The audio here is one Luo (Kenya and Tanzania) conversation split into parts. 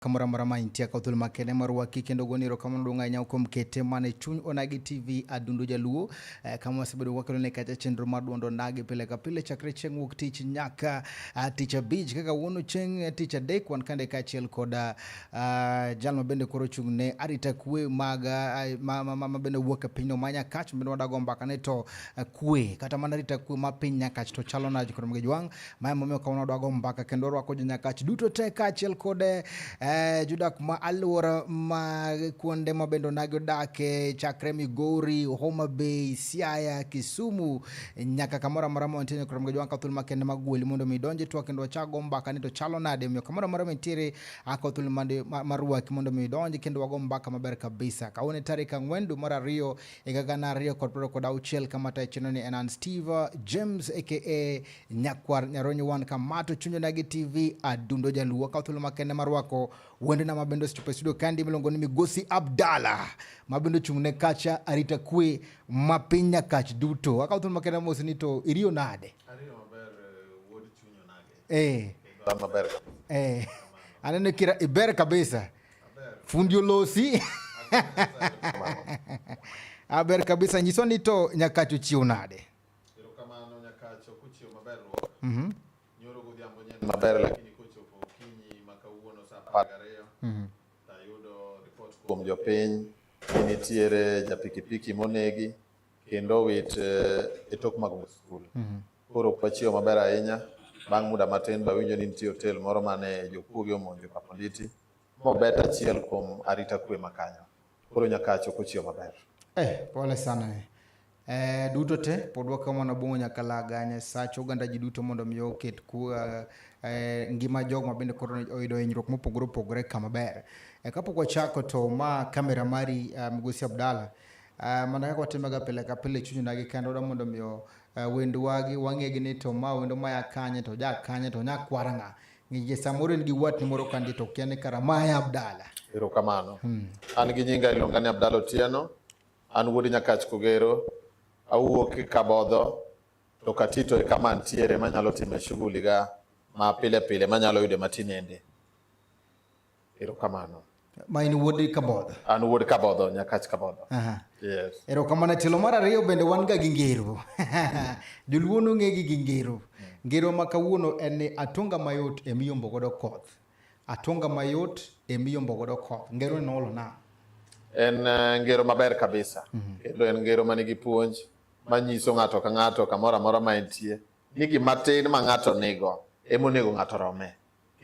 kamoro amora ma intie akaw thuolo makende mar waki kendo goni erokamano duong' ahinya kuom kete mana e chuny onagi tv adundo jaluo eh, kama wasebedo wakelo ne kacha chenro mar duond onagi pile ka pile chakre chieng' wuok tich nyaka uh, tich abich kaka wuono chieng' eh, tich adek wan kande kaachiel koda uh, ah, jal ma bende koro chung' ne arita kwe mag uh, ma, ma, ma, ma bende wuok e pinyno ma nyakach bende wadago mbaka ne to uh, kwe kata mana arita kwe ma piny nyakach to chalo naj kod mgejwang' Mae momiyo kawuono wadwago mbaka kendo rwako jo Nyakach duto te kaachiel kod eh, jodak ma alwora ma kuonde ma bende onagi odake chakre Migori, Homa Bay, Siaya, Kisumu nyaka kamoro amora ma wantie nyaka romga jwanka thul makende mag gweli mondo mi donje twa kendo wachago mbaka ni to chalo nade omiyo kamoro amora ma nitiere ako thul mande- ma- marwaki mondo mi donje kendo wago mbaka maber kabisa kawuono e tarik ang'wen dwe mar ariyo higa gana ariyo kod piero kod auchiel kama tayo chenro ni en an Steve James aka Nyakwar Nyaronyi wan kamato chunyo na gi TV adundo jaluo ka thuolo makende marwako wende na mabendo stupe studio kandi miluongo ni Migosi Abdala mabendo chung ne kacha arita kwe ma piny nyakach duto akaw thuolo makende mos ni to iriyo nade ariyo maber eh, wuod chunyo nade eh maber eh anene kira iber kabisa fundi olosi aber kabisa nyiso ni to nyakacho chiwo nade kuom jopiny ni nitiere japikipiki monegi kendo owit eh, e tok mag skul. Mhm. Koro ok wachiew maber ahinya. Bang' muda matin bawinjo ni nitie otel moro mane jokuoge omonjo Kaponditi mobet achiel kuom arita kwe makanyo. Koro nyaka achop ochiyo maber. Eh, pole sana. Eh. Eh, duto te pod wakomo na bongo nyaka laga Nyasacho oganda ji duto mondo mi oket ku eh, eh ngima jog ma bende koro oyudo hinyruok mopogore opogore kama ber. Eh, kapok wachako to ma kamera mari eh, Migosi Abdalla eh, mana kaka watimoga pile ka pile chunyna gi kendo da mondo mi eh, wendwa gi wang'egi ni to ma wendo maya kanye to ja kanye to nyakwara ng'a Ng'inje samoro en gi watni moro kandi to kia ni kara ma e Abdala. Erokamano. Hmm. An gi nyinga iluonga ni Abdala Otieno. An wuod Nyakach Kogero. Awuok e Kabodho to Katito e kama antiere manyalo time shughuli ga ma pile pile manyalo yude matinende. Erokamano. Ma in wuod Kabodho. An wuod Kabodho, Nyakach Kabodho. Aha. Yes. Erokamano tielo mar ariyo bende wan ga gi ngero. Joluo nong'e gi gi ngero. Ngero ma kawuono en ni atonga mayot e miyombo godo koth. Atonga mayot e miyombo godo koth. Ngero ni noolo na. En eh, ngero maber kabisa. Mhm. Kendo en ngero ma nigi puonj ma nyiso ng'ato ka ng'ato kamoro amora ma entie ni gima tin ma ng'ato nigo ema onego ng'ato rome.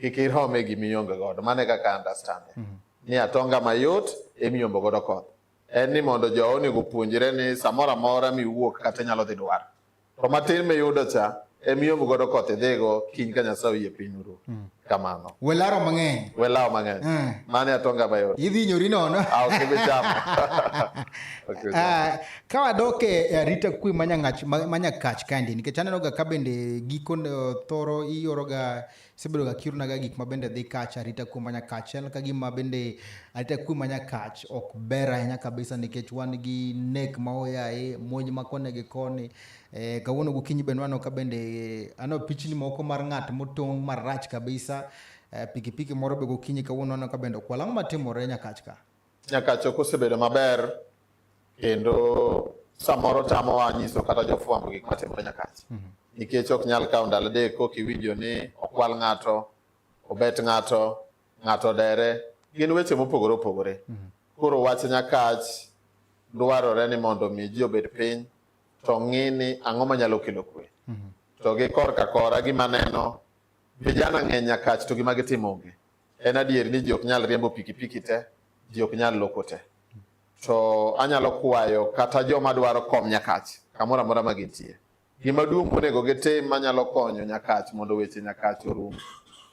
kik irom e gima ionge godo. Mano e kaka understand. Mm -hmm. Ni atonga mayot emiyombo godo koth. En ni mondo jo onego puonjre ni samoro amora miwuok kata inyalo dhi dwar. To matin miyudo cha emiyombo godo koth idhigo kiny ka Nyasaye oyie piny uru. Mm. Kamano. Welaro mang'eny. Welaro mang'eny. Mm. Mano e atonga mayot. Idhi nyori nono. Ah, ok ibi chamo. okay, uh, Ka wadok e arita kwe ma nyangach ma nyakach kaendi nikech aneno ga ka bende giko thoro ioro ga sebedo ga kiruna ga gik ma bende dhi kach arita kwe ma nyakach en ka gima bende arita kwe ma nyakach ok ber ahinya kabisa nikech wan gi nek ma oyaye monj ma kone gi koni e, eh, kawuono gokinyi bende wano ka bende ano pichni moko mar ng'at motong' marach kabisa e, pikipiki moro be gokinyi kawuono wano ka bende okwal ang'o matimore nyakach ka Nyakacho kosebedo maber kendo samoro tamowa nyiso kata jofwambo gik matimore Nyakacho mhm. nikech ok nyal kawo ndalo adek kok iwinjo ni okwal ng'ato, obet ng'ato, ng'ato dere, gin weche mopogore opogore. Mhm. Koro wach Nyakach dwarore ni mondo mi ji obed piny to ng'i ni ang'o manyalo kelo kwe. Mhm. To gi korka kora gima neno vijana ng'eny Nyakach to gima gitimo onge. En adier ni ji ok nyal riembo pikipiki te, ji ok nyal loko te. To anyalo kwayo kata joma dwaro kom Nyakach, kamoro amora ma gintie. Gima duong' monego gitim manyalo konyo Nyakach mondo weche Nyakach orum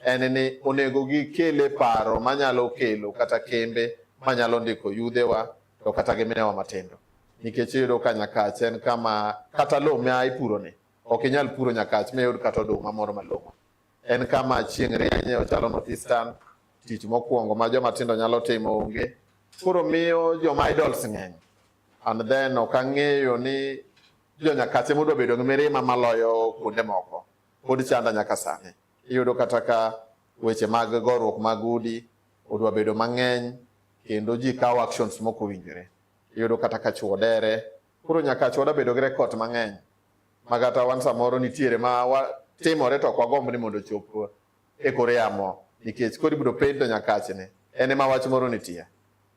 en ni onego gikele paro manyalo kelo kata kembe manyalo ndiko yudhewa to kata gi minewa matindo nikech iyudo ka nyakach en kama kata lowo ma ipuroni ok inyal puro nyakach miyud kata oduma moro malong'o En kama chieng' rienye ochalo North Eastern, tich mokwongo ma joma tindo nyalo timo onge. Koro miyo joma idols ng'eny. And then ok ang'eyo ni jo Nyakache modwa bedo gi mirima maloyo kuonde moko. Pod chanda nyaka sani. Iyudo kata ka weche mag goruok mag udi odwa bedo mang'eny kendo ji kawo actions mokowinjore. Iyudo kata ka chwo dere. Koro Nyakache wadwa bedo gi records mang'eny. ma kata wan samoro nitiere ma watimore to ok wagomb ni mondo ochop e kor yamo nikech koro ibiro pendo nyakachne en ema wach moro nitie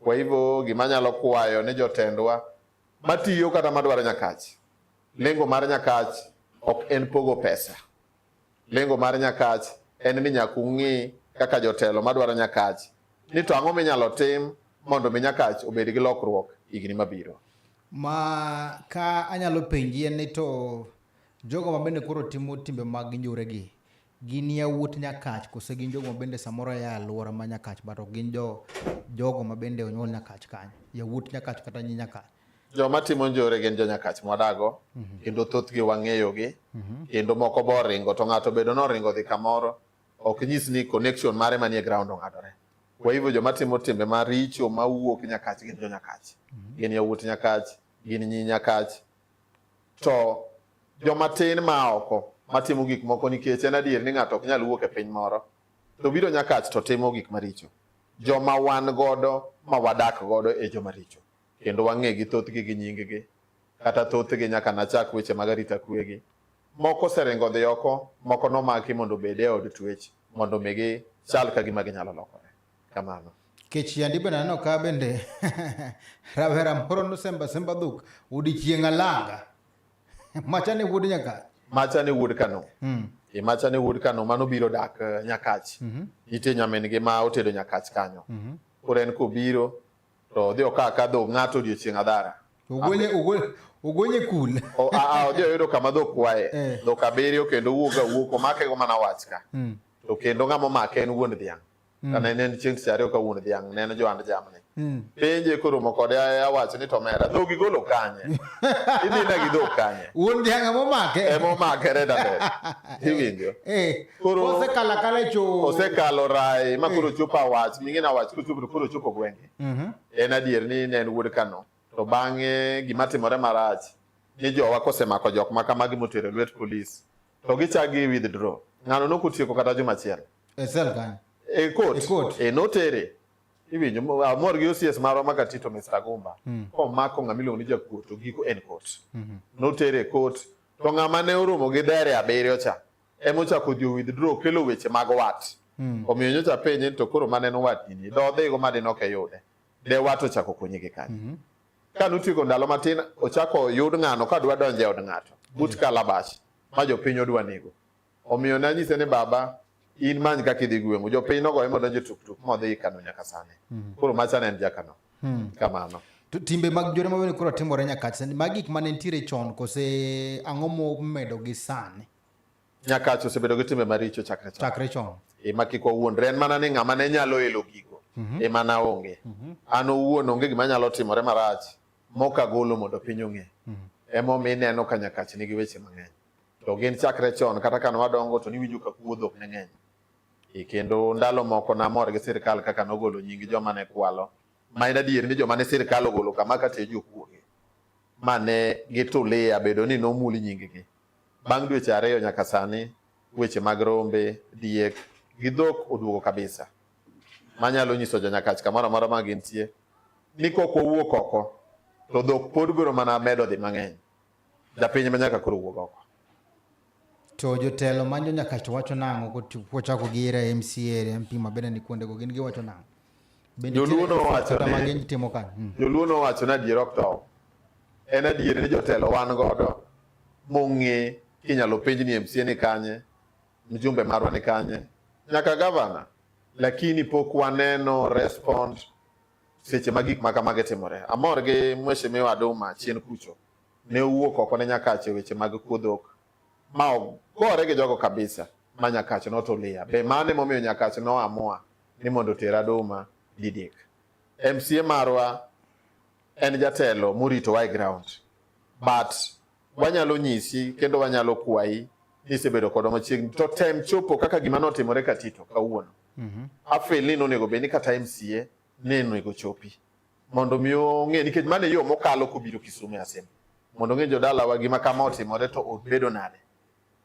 kwa hivyo gima nyalo kwayo ni jotendwa matiyo kata madwaro nyakach lengo mar nyakach ok en pogo pesa Lengo mar Nyakach en ni nyaka ung'i kaka jotelo madwaro Nyakach ni to ang'o minyalo tim mondo mi Nyakach obed gi lokruok higni mabiro. Ma ka anyalo penji en ni to jogo ma bende koro timo timbe mag njore gi gin yawuot Nyakach kose gin jogo ma bende samoro ya aluora ma Nyakach bato gin jo jogo ma bende onyuol Nyakach kanyo yawuot Nyakach kata nyi Nyakach. Joma timo njore gin jonyakach mwadago mhm. kendo thothgi wang'eyogi mhm. kendo moko bo ringo to ng'ato bedo noringo dhi kamoro ok nyis ni connection mare manie ground ong'adore. Kwa hivyo joma timo timbe maricho mawuok nyakach gin jonyakach, mhm. gin yawuot nyakach, gin nyi nyakach. To joma tin ma oko matimo gik moko nikech en adier ni ng'ato ok nyal wuok e piny moro to biro nyakach to timo gik maricho. Joma wan godo ma wadak godo e joma richo. kendo wang'egi thothgi gi nyinggi, kata thothgi nyaka nachak weche mag arita kwegi. Moko oseringo dhi oko, moko nomaki mondo obed e od twech mondo mi gichal ka gima ginyalo lokore. Kamano. kech yandi bende aneno ka bende rawera moro nosemba semba dhok odiechieng' alanga macha ne wuod nyaka macha ne wuod kano mm. e macha ne wuod kano mano biro dak eh, nyakach mm -hmm. nitie nyamin gi ma otedo nyakach kanyo mm -hmm. koro en kobiro to odhi oka ka dhok ng'ato odiochieng' adhara ogwenye ogwenye ogwenye kul a odhi oyudo kama dhok kwaye eh. dhok abiriyo kendo wuoga wuok omake go mana wach ka hmm. to kendo ng'ama omake en wuon dhiang' hmm. kana en en chieng' ariyo ka wuon dhiang' ne en johand jamni hmm. penje koromo kode awacho ni to mera dhok igolo kanye idhi na gi dhok kanye wuon dhiang' ema omake ema omake reda iwinjo eh. Koro osekala kale cho. Osekalo rai ma koro eh. chopo awach, mingi na awach koro chopo koro chopo gwenge. Mhm. Mm en adier ni ne en wuod Kano. To bang'e gima timore marach ni jowa kosemako jok ma kamagi motero lwet polis to gichagi withdraw. Ng'ano no kutieko kata juma achiel. E sel kan. E court. E court. E notere. Iwinjo amor gi OCS marwa ma Katito Mr. Gumba. Mm. Komako ng'ama iluongo ni jakuo to giko en court. Mm -hmm. Notere court. To ng'ama ne oromo gi dere abiriyo cha. ema ochako dhi withdraw kelo weche mag wat hmm. omiyo nyocha penje to koro mane no wat nini do dhigo ma dino ke yude de wat ochako konye gi kanyo hmm. ka notieko ndalo matin ochako yud ng'ano ka dwa donje od ng'ato but hmm. kalabash ma jopiny odwa nego omiyo nanyise ni baba in many kaka idhi gweng'u jopiny nogoye modonjo tuktuk modhi kano nyaka sani koro machane en jakano Hmm. Kamano. To timbe mag jore mawene koro timore nyaka sani. Mag gik mane nitiere chon kose ang'o momedo gi sani? Nyaka cho osebedo gi timbe maricho chakre chon. Chakre chon. E ma kik wawuondre en mana ni ng'ama ne nyalo elo gigo mm -hmm. e mana onge. Mm -hmm. An owuon onge gima nyalo timore marach moka golo mondo piny ong'e. Mm -hmm. Emo mi neno ka nyakach nigi weche mang'eny. To gin chakre chon kata kane wadongo to niwinjo ka kuodho ne ng'eny. E kendo ndalo moko namor gi sirkal kaka nogolo nying joma ne kwalo ma en adier ni joma ne sirkal ogolo kama ka tejo kuoge ma ne gitulia bedo ni nomul nyinggi. Bang' dweche ariyo nyaka sani, weche mag rombe, diek gi dhok oduogo kabisa. Manyalo nyiso jonyakach kamoro amora ma gintie ni kok wawuok oko to dhok pod biro mana medo dhi mang'eny. Japiny ma nyaka koro wuog oko. To jotelo manyo nyaka to wacho nang'o kochako gi era MCA, MP ma bende ni kuonde go gin giwacho nang'o? Joluo nowacho ni timo kan. Hmm. Joluo nowacho ni adier ok tow. En adier ni jotelo wan godo mong'e kinyalo penj ni MCA ni kanye, mjumbe marwa ni kanye, nyaka gavana, lakini pok waneno respond seche ma gik makamage timore. Amor gi Mheshimiwa Aduma chien kucho ne owuok oko ne Nyakache weche mag kuodhok ma ogore gi jogo kabisa ma Nyakache notulia. Be mano emomiyo Nyakache noamua ni mondo oter Aduma Didik. MCA marwa en jatelo moritowa e ground but wanyalo nyisi kendo wanyalo kwayi ni isebedo kodwa machiegni to tem chopo kaka gima notimore Katito kawuono. Mm -hmm. Afil ni nonego bed ni kata MCA ne onego chopi mondo mi ong'e nikech mano e yo mokalo kobiro Kisumu e Asembo mondo ong'e jodalawa gima kama otimore to obedo nade.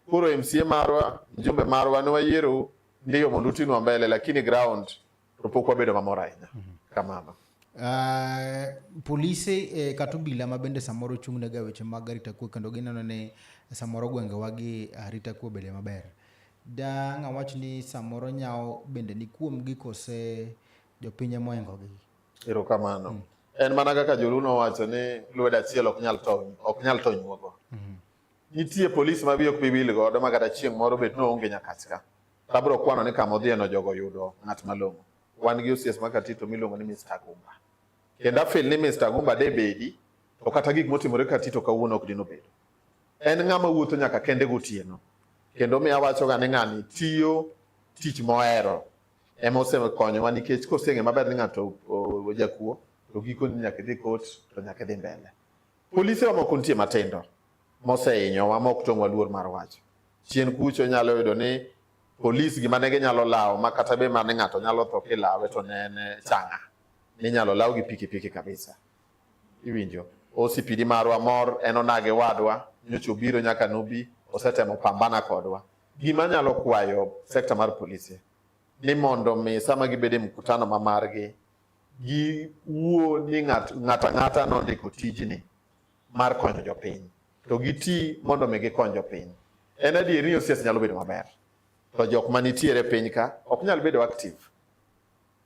Koro MCA marwa, mjumbe marwa ne wayiero ndiyo mondo utinwa mbele lakini ground To pok wabedo mamor ahinya mhm. kamano. Uh, polise eh, kata obila ma bende samoro chung' nega weche mag arita kwe kendo gineno ni samoro gwengewa gi arita kwe obede maber. Da ng'a wach ni samoro nyawo bende ni kuom gi kose jopiny ema oingogi. Erokamano. Mm. En mana kaka joluno wacho ni lwedo achiel ok nyal tony, ok nyal tony wuogo. Mm. Nitie polisi ma biyo ok bibil godo ma kata chieng' moro bet ni oonge nyakachka. To abiro kwano ni kama odhiyeno jogo yudo ng'at malong'o. Wan gi osies ma Katito miluongo ni Mr. Agumba. Kendo afil ni Mr. Agumba de bedi, to kata gik motimore Katito kawuono ok dino bedo. En ng'ama wuotho nyaka kende gotieno. Kendo mi awachoga ni ng'ani tiyo tich mohero ema osekonyowa nikech koseng'e maber ni ng'ato ojakuo to gikoni nyaka idhi kot to nyaka idhi mbele. Polise wa moko nitie matindo mosehinyowa ma ok tong'wa luor mar wacho. Chien kucho nyalo yudo ni polis gima ne ginyalo lawo ma kata be mane ng'ato nyalo tho kilawe to ne en changa. Ninyalo law gi pikipiki kabisa. Iwinjo? Osipidi marwa mor en onage wadwa nyocha obiro nyaka nobi osetemo pambana kodwa. Gima nyalo kwayo sekta mar polise ni mondo mi sama gibede mkutano ma margi giwuo ni ng'ato ang'ata nondiko tijni mar konyo jopiny to giti mondo mi gikony jopiny. En adier ni OCS nyalo bedo maber, to jok ma nitiere piny ka ok nyal bedo active.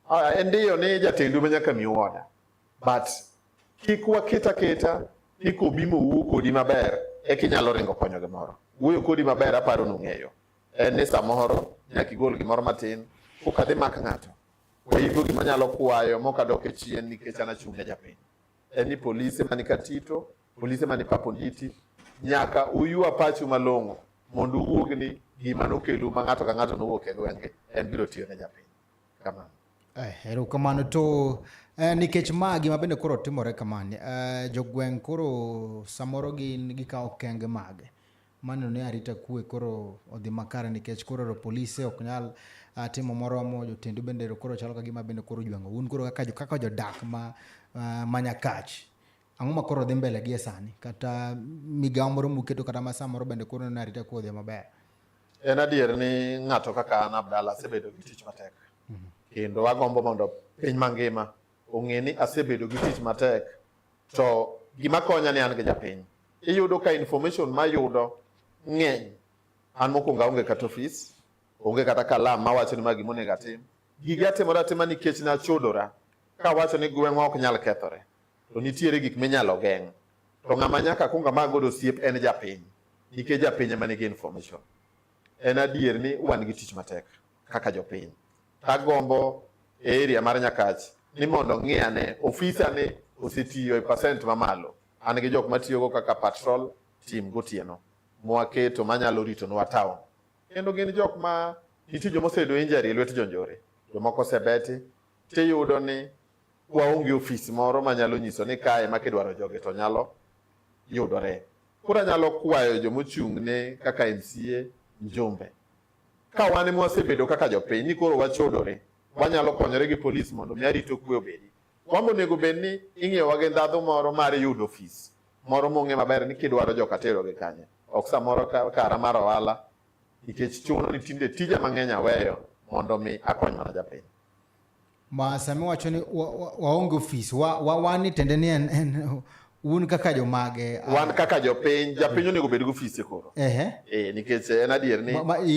Ah, en ndiyo ni jatendu ma nyaka miu oda, but kik waket aketa ni kobimo wuo kodi maber e kinyalo ringo konyo gimoro. Wuoyo kodi maber aparo nung'eyo en ni samoro nyaka igol gimoro matin kokadhi mak ng'ato Kwa hivyo gima nyalo kwayo mokadok e chien nikech an achung' ne japiny en ni polise mani Katito, polise mani Paponditi nyaka uyua pachu malong'o mondo uwuog ni gima nokelu ma ng'ato ka ng'ato nowuok e gwenge en biro tiyo ne japiny. Kamano. Eh, erokamano to eh, nikech ma gima bende koro timore kamani eh, jogweng' koro samoro gin gikawo kenge mage Mano ne arita kwe koro odhi makare nikech koro ero polise ok nyal uh, timo moromo jotendu bende ero koro chalo kagima bende koro jwango un koro kaka, kaka jodak ma, uh, ma nyakach ang'o ma koro dhi mbele gi e sani kata migawo moro muketo kata ma samoro bende koro ne arita kwe odhi maber en adier ni ng'ato kaka an abdala asebedo gi tich matek mm -hmm. kendo agombo mondo piny mangima ong'e ni asebedo gi tich matek to gima konya ni an gi japiny. Iyudo ka information mayudo ng'eny. An mokwongo aonge kata ofis, onge kata kalam mawacho ni ma gima onego atim. Gige atimora atima nikech nachodora kawacho ni gweng'wa ok nyal kethore. To nitiere gik minyalo geng'. To ng'ama nyaka akwong amak godo osiep en japiny nikech japiny ema nigi information. En adier ni wan gi tich matek kaka jopiny. Tagombo e area mar Nyakach ni mondo ng'i ane ofisa ni osetiyo e percent mamalo. An gi jok matiyogo kaka patrol team gotieno mwaketo manyalo ritonwa town. Kendo gin jok ma nitie joma oseyudo injury e lwet jonjore, jomoko osebeti tiyudo ni waonge ofis moro manyalo nyiso ni kae ma kidwaro joge to nyalo yudore. Koro anyalo kwayo jomochung' ne kaka MCA Njombe ka wan ema wasebedo kaka jopiny ni koro wachodore, wanyalo konyore gi polis mondo mi arito kwe obedi. Wambo onego bed ni ing'iyowa gi ndhadhu moro mar yudo ofis moro mong'e maber ni kidwaro joka tero gi kanye, ok samoro kara mar ohala nikech chuno ni tinde tija mang'eny aweyo mondo mi akony mana japiny. ma sami wacho ni waonge ofis wan ni tende ni en un kaka jomage ah. wan kaka jopiny japiny onego bed gi ofise koro eh nikech en adier ni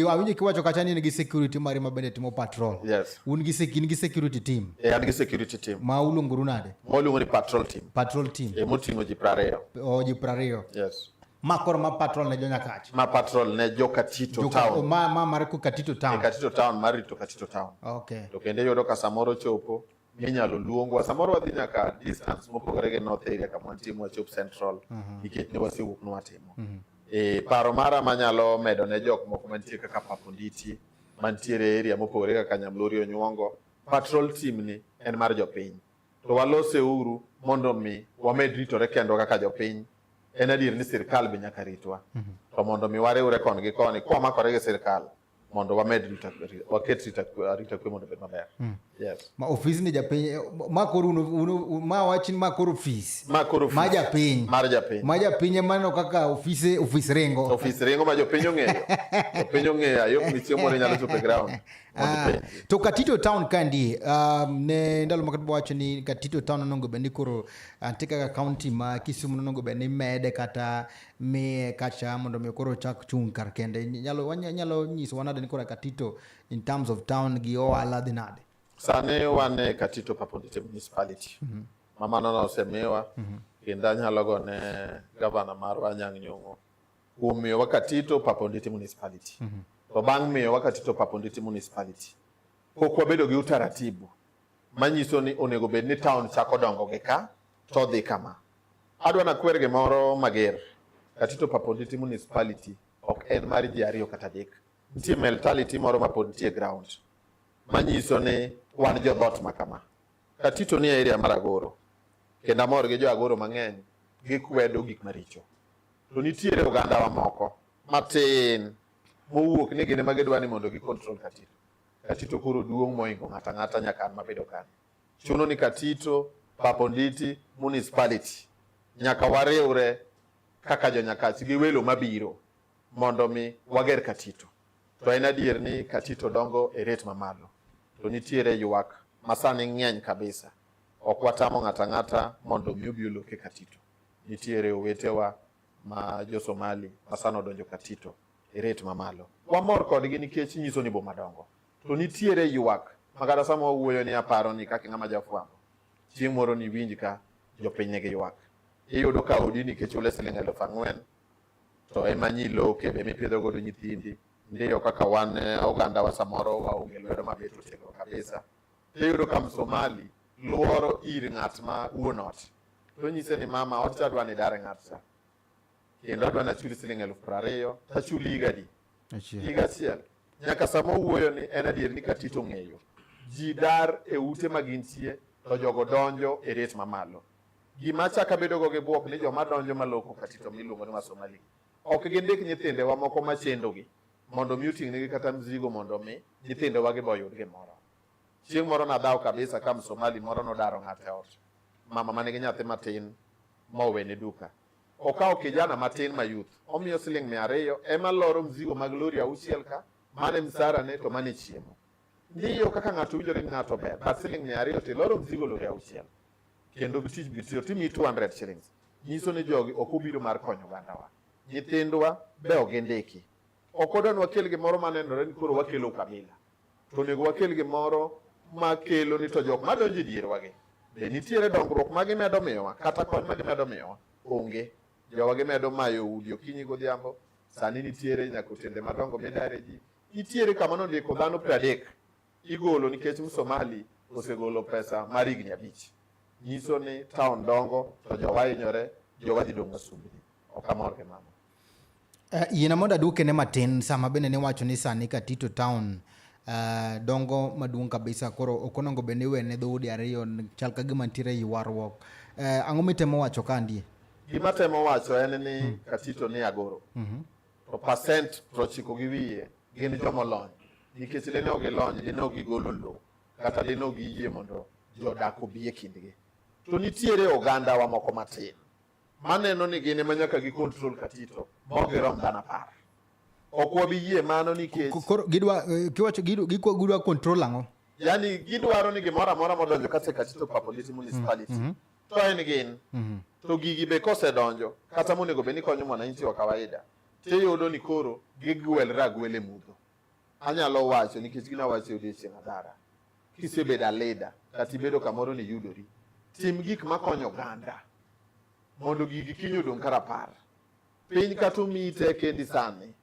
awinjo kiwacho kacha ni in gi security mari ma bende timo patrol yes un gi in gi security team eh an gi security team ma uluongoru nade ma uluongo ni patrol team patrol team e moting'o ji prariyo o ji prariyo yes ma koro ma patrol ne jonyakach ma patrol ne jo Katito Joka, town oh, ma, ma mar ku Katito town e Katito town mar rito Katito town okay to kendo yudo ka samoro chopo minyalo luongwa samoro wadhi nyaka distance mopogore gi north area kama wantie mwachop central mhm. nikech ne wasewuok nwatimo mhm. e paro mara manyalo medo ne jok moko mantie kaka paponditi mantiere area mopogore kaka nyamlori onyuongo patrol team ni en mar jopiny to walose uru mondo mi wamed ritore kendwa kaka jopiny. En adier ni sirkal be nyaka ritwa. Mhm. To mondo mi wariwre kon gi koni kwa makore gi sirkal mondo wamed rita waket rita rita kwe mondo bed maber. Mm. Yes. Ma ofis ni japiny eh, ma koro uno, uno, ma wachin ma koro ofis. Ma koro ofis. Ma japiny. Mar japiny. Ma japiny ema no kaka ofise ofis ringo. Ofis ringo ma jopiny ong'eyo. jopiny ong'eyo ayo ni chiemo ne nyalo chopo e ground. Ah, to katito town kandi um, ne ndalo ma katubo wacho ni katito town onongo bende koro antie kaka county ma kisumu nonongo bende mede kata miye kacha mondo mi koro chak chung' kar kende nyalo nyalo nyiso wanade ni koro katito in terms of town gi ohala dhi nade sani wan e katito papondite municipality mm -hmm. mamano nosemiwa mm -hmm. kendo anyalo gone gavana marwa anyang' nyong'o kuom miyowa Katito Papa Onditi Municipality. Mm -hmm. To bang' miyowa Katito Papa Onditi Municipality, pok wabedo gi utaratibu manyiso ni onego bed ni town chako dongo gi ka to dhi kama. Adwa nakwer gimoro mager. Katito Papa Onditi Municipality ok en mar ji ariyo kata adek. Nitie mentality moro ma pod nitie ground manyiso ni wan jo dhoot ma kama. Katito ni e area mar Agoro kendo amor gi jo Agoro mang'eny gikwedo gik maricho. to nitiere ogandawa moko matin mowuok ni gine ma gidwa ni mondo gikontrol Katito. Katito koro duong' moingo ng'ato ang'ata nyaka an mabedo kani. Chuno ni Katito, Babonditi, municipality nyaka wariwre kaka jonyakachi gi welo mabiro mondo mi wager Katito. To en adier ni Katito dongo e ret mamalo, to nitiere ywak masani ng'eny kabisa. Ok watamo ng'ato ang'ata mondo mi obi oloke Katito. nitiere owetewa ma jo Somali ma sano odonjo Katito e rate mamalo. Wamor kodgi nikech nyiso ni boma dongo. To nitiere ywak ma kata sama wawuoyo ni aparo ni kaka ng'ama jafwambo, chieng' moro niwinj ka jopiny nigi ywak. Iyudo ka odi nikech ule siling' eluf ang'wen to ema nyi loke be mipidho godo nyithindi. Ndiyo kaka wan e, ogandawa samoro waonge lwedo mabet otegno kabisa. Iyudo ka Msomali luoro ir ng'at ma wuon ot to nyise ni mama, ot cha dwa ni dar ng'at cha kendo adwa nachuli siling elfu piero ariyo tachuli higa di higa achiel nyaka sama owuoyo ni en adier ni katito ng'eyo ji dar e ute ma gintie to jogo donjo e ret mamalo gima chak abedogo gi bwok ni joma donjo maloko katito miluongo ni wasomali ok gindik nyithindewa moko machendogi mondo mi oting'negi kata mzigo mondo mi nyithindewa gi boyud gimoro Chieng' moro nadhaw kabisa ka msomali moro nodaro ng'ate ot. Mama mane gi nyathi matin mowene duka. Okawo kijana matin ma youth, omiyo siling mia ariyo ema loro mzigo mag lori auchiel ka, mane msara ne to mane chiemo. Ndiyo kaka ng'ato winjore ni ng'ato ber, but siling mia ariyo to iloro mzigo lori auchiel. Kendo tich bitiyo timi 200 shillings. Nyiso ni jogi ok obiro mar konyo ogandawa. Nyithindwa be ogindiki. Ok odwa ni wakel gimoro manenore ni koro wakelo ukabila. to onego wakel gimoro ma kelo ni to jok madonjo e dierwagi be nitiere dongruok ma gimedo miyowa kata kony ma gimedo miyowa onge jowa gimedo mayo udi okinyi godhiambo sani nitiere nyaka otende madongo midare ji nitiere kama nondiko dhano piero adek igolo nikech msomali osegolo pesa mar higni abich nyiso ni taon dongo to jowa hinyore jowa dhi dong' wasumbni ok amor gi mama Uh, yiena mondo aduokene matin sama bende niwacho ni sani Katito Town uh, dongo maduong' kabisa koro ok onego bed ni iwene dhoudi ariyo chal ka gima nitiere ywaruok. Uh, eh, ang'o mitemo wacho ka ndie? Gima temo wacho en ni hmm. Katito ni Agoro. Mm -hmm. To pasent prochiko gi wiye gin jomolony nikech dine ok gilony dine ok gigolo lowo kata dine ok giyie mondo jodak obi e kindgi. To nitiere ogandawa moko matin maneno ni gin ema nyaka gi control katito maok girom dhano apar ok wabi yie mano nikech koro gidwa eh, kiwacho gikwa gidwa control ang'o yani gidwaro ni gimoro amora modonjo kata katito papolisi municipality mm -hmm. to en gin mm -hmm. to gigi be kosedonjo kata monego bed ni konyo mwananchi wa kawaida tiyudo ni koro gigwelre agwele mudho anyalo wacho nikech ginawacho odiechieng' adara kisebedo alida kata ibedo kamoro ni yudori, tim gik makonyo oganda mondo gigi kiny odong' ka rapar. Piny kata omiyi tekendi sani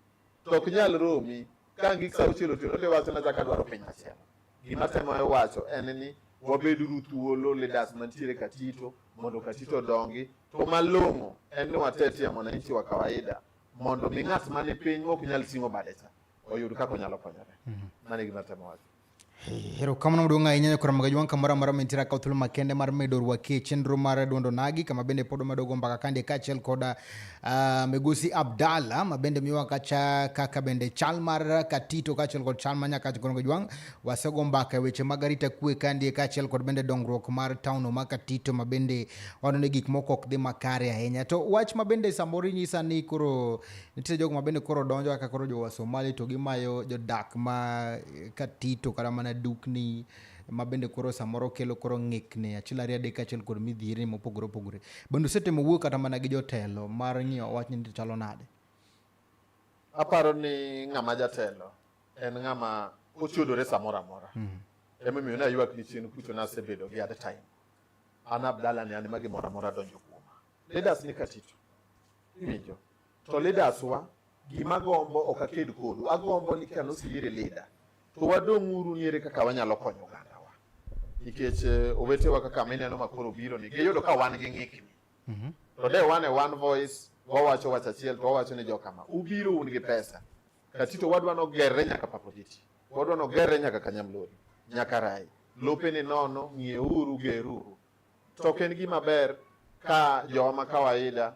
to ok nyal romi ka ang' gik sa auchiel otieno to iwacho nachako adwaro piny machielo. Gima atemo wacho en ni wabeduru thuolo leaders mantiere Katito mondo Katito odongi to malong'o en ni watetie mwananchi wa kawaida mondo mi ng'at mani piny mok nyal ting'o bade cha oyud kaka onyalo konyore. Mano e gima atemo wacho. Erokamano maduong' ahinya nyakora magaji wang' kamoro amora mintira ka thuolo makende mar medo rwaki e chenro mar duondo nagi kama bende pod omedo go mbaka kande kaachiel kod uh, ah, Migosi Abdalla ma bende miwa kacha kaka bende chal mar Katito kaachiel kod chal ma nyaka nyakora magaji wang' wasego mbaka e weche mag arita kwe kande kaachiel kod bende dongruok mar town ma Katito ma bende waneno gik moko ok dhi makare ahinya to wach ma bende samoro inyisa ni koro Nitie jogo ma bende koro donjo kaka koro jo Somali to gimayo jodak ma eh, Katito kata mana dukni ma bende koro samoro kelo koro ng'ikni achiel ariyo adek achiel kod midhieri mopogore opogore. Bende usetemo wuoyo kata mana gi jotelo mar ng'iyo wach ni chalo nade? Aparo ni ng'ama jatelo en ng'ama ochudore samoro amora. Mm. Emomiyo naywak ni chien kucho nasebedo gi at time. An Abdalla ni an ma gimoro amora donjo kuoma. Leaders ni Katito. Iwinjo. to leaders wa gima gombo ok aked kodu agombo ni kano sibire leader to wadong' uru niere kaka wanyalo konyo oganda wa nikech eh, owetewa kaka mineno ma koro biro ni giyudo ka wan gi ng'ikni mhm. to de wan e one voice wawacho wach achiel to wawacho ni jokama ubiro un gi pesa katito wadwa nogerre nyaka papoditi wadwa nogerre nyaka kanyamlori nyaka rai lope ni nono ng'ieuru geruru to ok en gima ber ka joma kawaida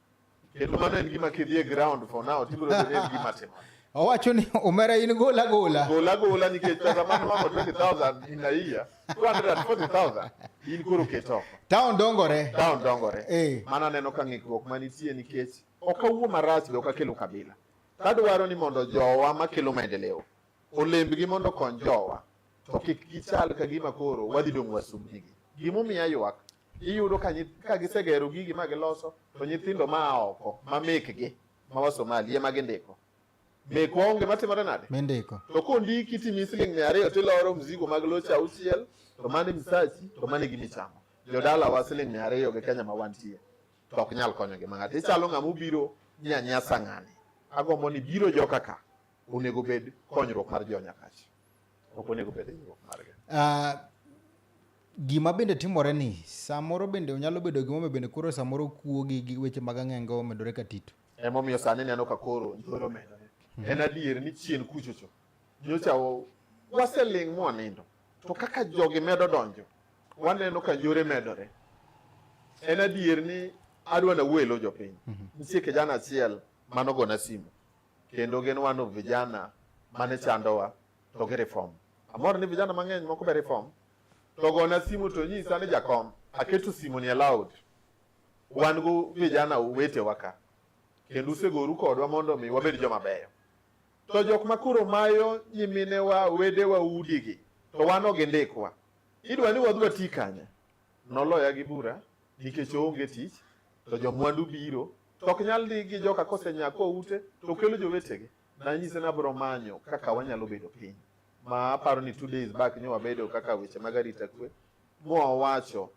Kendo mano en gima kidhi e ground for now tibiro bedo en gima timo. Owacho ni omera in gola gola. Gola gola nikech pesa mano mamo 20,000 in a year, 240,000 in koro keto. Town dongore. Town dongore. Eh. Mano aneno ka ng'ikruok manitie nikech ok awuo marach be ok akelo kabila. Kadwaro ni mondo jowa makelo maendeleo olembgi mondo okony jowa to kik gichal ka gima koro wadhi dong' wasumbnigi. Gimomiyo aywak iyudo ka nyi- ka gisegero gigi ma giloso to nyithindo ma oko ma mekgi ma wasomali ema gindiko mekwa onge matimore nade Mindiko. to kondiki timi siling mia ariyo tiloro mzigo mag loche auchiel to mani misachi to mani gi michamo jodala wa siling mia ariyo gi kenya ma wantie to ok nyal konyo gi mang'ato ichalo ng'ama obiro nyanyasa ng'ani agombo ni biro joka ka onego bed konyruok mar jo nyakachi Ok onego obed e riwruok margi. Ah, gima bende timore ni samoro bende onyalo bedo gimomiyo bende koro samoro kuo gi gi weche mag ang'enge omedore ka tito Emomiyo sani neno ka koro njoro medore. En adier ni chien kuchocho. Nyocha wa- waseling' mwanindo. To kaka jogi medo donjo, waneno ka njore medore. En adier ni adwa nawelo jopiny. Nitie kijana achiel manogona simu. kendo gin one of vijana mane chandowa to gi reform. Amor ni vijana mang'eny moko be reform to gona simu to nyisa ni jakom aketo simu ni aloud wan go vijana uwete waka kendo usegoru kodwa mondo mi wabed joma beyo to jok ma koro mayo nyiminewa wedewa udigi to wan ogi ndikwa idwa ni wadwa ti kanye noloya gi bura nikech oonge tich to jomwandu biro to ok nyal ni gi joka kosenyaa kwa ute to kelo jowetegi nanyise ni abiro manyo kaka wanyalo bedo piny ma aparo ni two days back nyo wabedo kaka weche mag arita kwe mowacho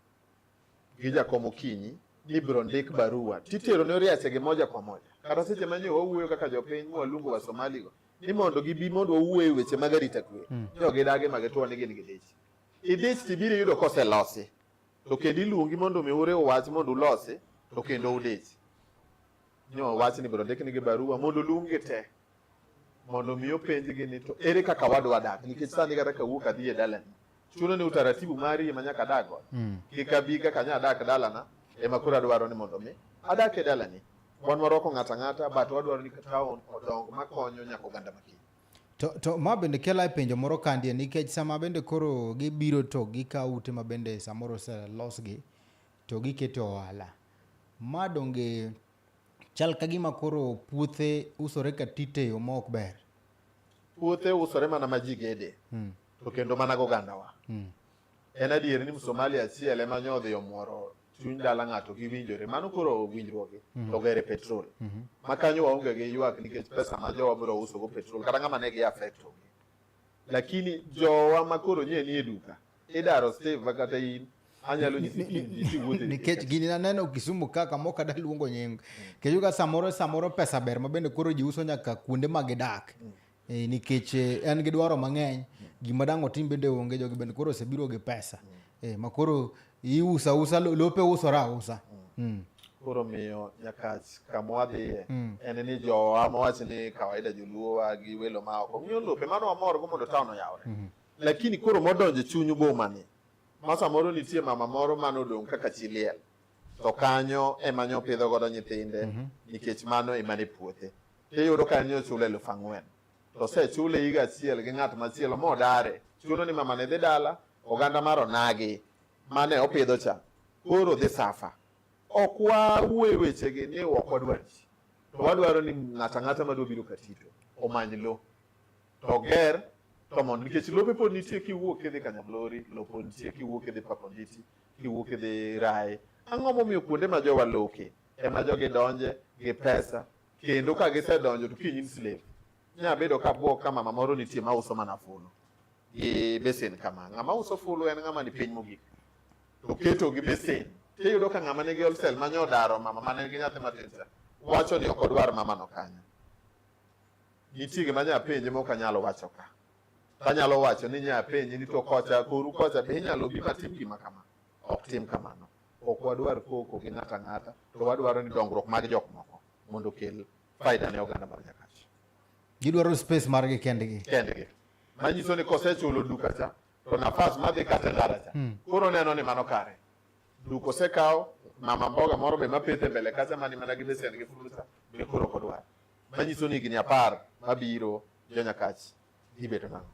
gi jakom okinyi ni ibiro ndik barua titero ne oriachege moja kwa moja kata seche ma nyo wawuoyo kaka jopiny mwaluongo wa somaligo ni mondo gibi mondo wawuoye weche mag arita kwe mm. jogidage mage to wan gin gidich idich tibiro yudo koselosi to kendo iluongi mondo mi ure wach mondo ulosi to kendo udichi nyo wach ni biro ndiknigi barua mondo luongi te mondo mi openjgi ni to ere kaka wadwa dak nikech sani kata kawuok adhi e dalani chuno ni utaratibu mari ema nyaka adag godo mm. kik abi kaka nya adak dalana ema koro adwaro ni mondo mi adak e dalani wan warwako ng'ato ang'ata but wadwaro ni town odong makonyo nyaka oganda makiny To, to ma bende kela e penjo moro kandie nikech sama bende koro gibiro to gikawo ute ma bende samoro oselosgi to giketo ohala. Ma donge chal ka gima koro puothe usore ka tite yo ma ok ber. Puothe usore mana ma ji gede. Hmm. To kendo mana gogandawa. Hmm. En adier ni Msomali achiel ema nyodhi omworo chuny dala ng'ato giwinjore mano koro winjruoge mhm. to gere petrol mhm. ma kanyo waonge gi ywak nikech pesa ma jowa biro uso go petrol kata ng'ama ne gi affect ogi lakini jowa ma koro nye ni e duka idaro steve kata in anyalo nikech gini naneno Kisumu ka kamoro kada luongo nying kechuka samoro samoro pesa ber ma bende koro ji uso nyaka kuonde ma gidak mm. Eh, nikech eh, en gi dwaro mang'eny gima dang' otim bende onge jogi bende koro osebiro gi pesa eh, ma koro iusa usa lope usore ausa mm. koro miyo nyakach kama wadhiye mm. en ni jowa mawach ni kawaida joluowa gi welo ma oko miyo lope mano wamorgo mondo taon oyawre mm-hmm. lakini koro modonjo chuny bomani ma samoro nitie mama moro mane odong' kaka chiliel to kanyo ema nyopidho godo nyithinde mm-hmm. nikech mano emane puothe tiyudo ka en ochulo eluf ang'wen to osechule higa achiel gi ng'at machielo modare chuno ni mamane dhi dala oganda mar onagi mane opidho cha koro dhi safa ok wawuoye wechegi ni ok wadwar ji to wadwaro ni ng'ato ang'ata madwa biro katito omany lo to oger to mondo nikech lope pod nitie kiwuok kidhi kanyablori lo pod nitie kiwuok kidhi paponditi kiwuok kidhi raye ang'o momiyo kuonde ma jowa loke ema jogi donje gi pesa kendo ka gisedonjo to kiny slave nya bedo ka bwok ka mama moro nitie ma uso mana fulu gi besen kama ng'ama uso fulu en ng'ama ni piny mogik to keto gi besen tiyudo ka ng'ama nigi olsel ma nyodaro mama ma nigi nyathi matin cha wacho ni ok odwar mama no kanyo nitie gima nya penje mok anyalo wacho ka tanyalo wacho ni nya penje ni to kocha koru kocha be inyalo bi matim gima kama ok tim kamano ok wadwar koko gi ng'ato ang'ata, to wadwaro ni dongruok mag jok moko mondo okel faida ne oganda mar Nyakach. Gidwaro space margi kendgi. Kendgi. Manyiso ni kosechulo duka cha, to nafas madhi kata ndara cha. Hmm. Koro neno ni mano kare. Duka osekawo, mama mboga moro be mapethe mbele kacha mani mana gi besen gi fulu cha, be koro ok odwar. Manyiso ni higni apar mabiro jo Nyakach ibedo nang'o.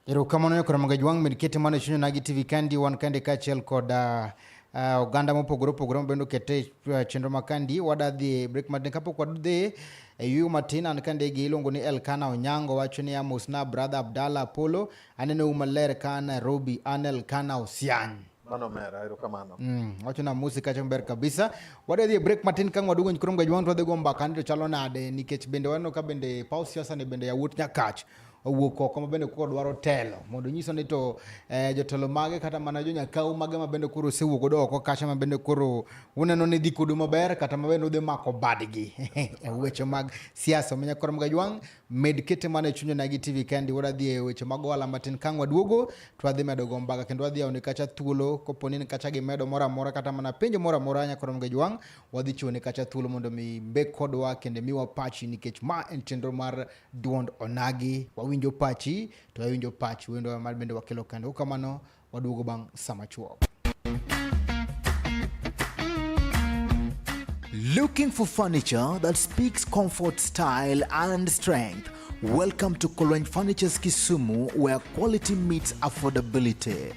Erokamano ne Kora Magaji Wang' med kete mana chunya nagi TV Kandi wan kande kaachiel kod uh, uh, oganda mopogore opogore mabende okete uh, chenro ma kandi wada dhi break matin kapok wadhi e yuyo matin an ka ndege iluongo ni elkana onyango wacho ni amosna brother abdalla apolo aneno u maler ka nairobi an elkana osiany mano mera erokamano mm, wacho na musi kacha maber kabisa wade dhi e break matin kang wadugo nyikrom gajwang to wadhi go mbaka ni to chalo nade nikech bende waneno ka bende paw siasa ni bende yawuot nyakach owuok oko ma bende koro dwaro telo mondo nyiso ni to eh, jotelo mage kata mana jonyakaw mage ma bende koro osewuok godo oko kacha ma bende koro uneno ni dhi kodu maber kata ma bende udhi mako badgi e weche mag siasa omiyo koro mga jwang' med kete mana e chunya nagi tv kendi wuod adhi e weche mag ohala matin kang' waduogo to adhi medo go mbaga kendo adhi yawoni kacha thuolo kopo ni kacha gimedo moro amora kata mana penjo moro amora nyakoro mga jwang' wadhi chiwoni kacha thuolo mondo mi mbek kodwa kendo miwa pachi nikech ma en chenro mar duond onagi wawinjo pachi to wawinjo pach wendo mar bende wakelo kendo kamano waduogo bang' sama chuok Looking for furniture that speaks comfort, style, and strength? Welcome to Kolweny Furniture's Kisumu, where quality meets affordability.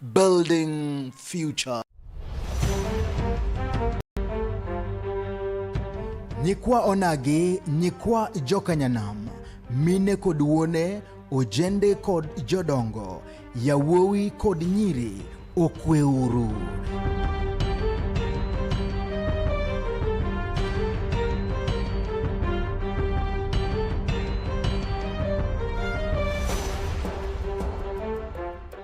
building future. Nyikwa Onagi, nyikwa Jokanyanam, mine kod wuone, ojende kod jodongo, yawuowi kod nyiri, okweuru.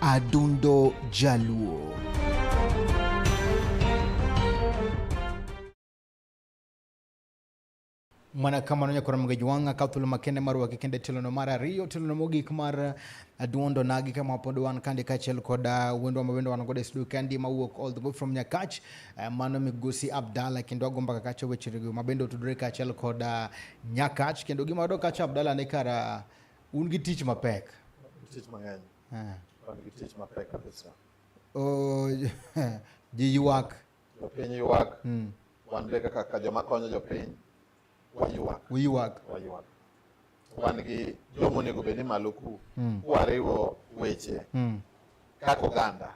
Adundo Jaluo. mana kamano nyakora mga jwanga ka thuolo makende mar waki kende tilono mar ariyo tilono mogik mar aduondo uh, nagi kama pod wan kande kaachiel kod uh, wendwa ma bende wan godo e studio kandi mawuok all the way from nyakach uh, mano migosi abdala kendo agomba ka kacha wechego ma bende otudore kaachiel kod nyakach kendo gima wayudo kacha abdala ne kara Un gi tich mapek. Tich mang'eny. Eh. Wan gi tich mapek kabisa. Oh, ji ywak. Jopiny ywak. Hmm. Wan be kaka joma konyo jopiny waywak. Waywak. Waywak. Wan gi joma onego bed ni malo ku. Hmm. Kwariwo weche. Hmm. Kaka oganda.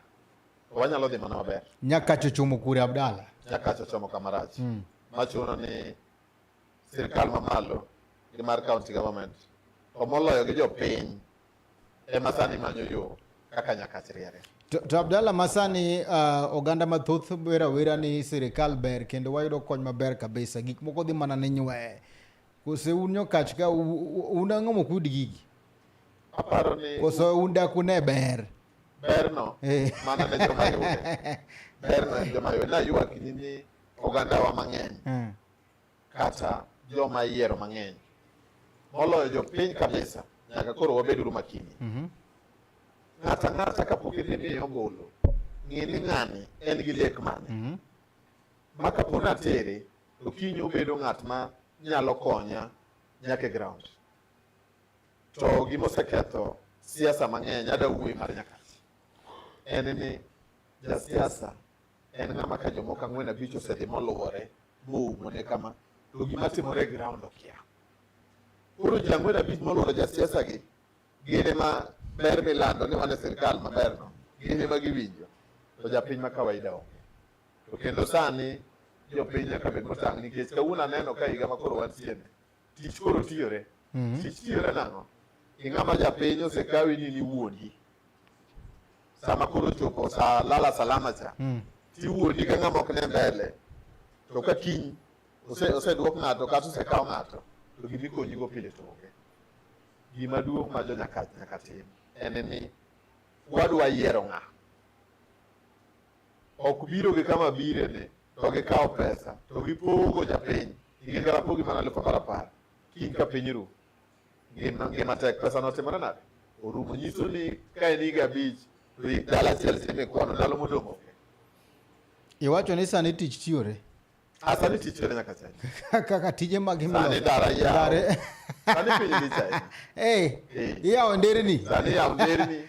Wanyalo dhi mana maber. Nyakacho chomo kure Abdala. Nyakacho chomo kamarach. Machuno ni sirkal mamalo gi mar county government to moloyo gi jopiny ema sani manyo yo kaka Nyakach riere. To, to Abdalla masani uh, oganda mathoth wera wera ni sirikal ber kendo wayudo kony maber kabisa gik moko dhi mana ni nywe kose un nyokach ka un ang'o mokud gigi aparo ni kose un daku ne ber berno eh. mana ne joma yude berno en joma yude nayuak ni ogandawa mang'eny mm. kata joma iyiero mang'eny moloyo jopiny kabisa, nyaka koro wabed uru makini. mm -hmm. Ng'ata ng'ata kapok idhi miyo ombulu, ng'e ni ng'ani en gi lek mane. mm -hmm. Ma kapo natere to kiny obedo ng'at ma nyalo konya nyaka e ground. To gima oseketho siasa mang'eny ada wuoyi mar nyaka en ni jasiasa en ng'ama ka jomoko ang'wen abich osedhi moluwore moumone kama to gima timore e ground okia koro ji ang'wen abich moluwore jasiasa gi gin ema ber milando ni wan e sirkal maberno gin ema giwinjo to japiny ma kawaida onge to kendo sani jopiny nyaka bed motang' nikech kawuono aneno ka higa ma koro wantiene Tich koro tiyore. Mhm. Tich tiyore nang'o? Ing'ama japiny osekawi ni ni wuondi. Sama koro chopo sa lala salama cha, mm. tiwuondi ka ng'ama ok ne mbele. To ka kiny oseduok ng'ato kata osekaw ng'ato, to gimikonyigo pile to onge. Gima duong' ma jo nyaka tim en ni wadwa yiero ng'a. Ok biro gi kama birene to gikawo pesa to gipogo japiny Ing'e kalapo gi mana alufu apar apar. Kiny ka piny ru. Ngima ngima tek pesa notimore nade? Orumo nyiso ni ka en higa abich to hik dala achiel sime kwano ndalo modong' onge. Iwacho ni sani tich chiore. Ah, sani tich chiore nyaka chai. Kaka tije mag himlo. Sani dara yawo. Sani piny lich ahinya. Eh, iyawo nderni. Sani yawo nderni.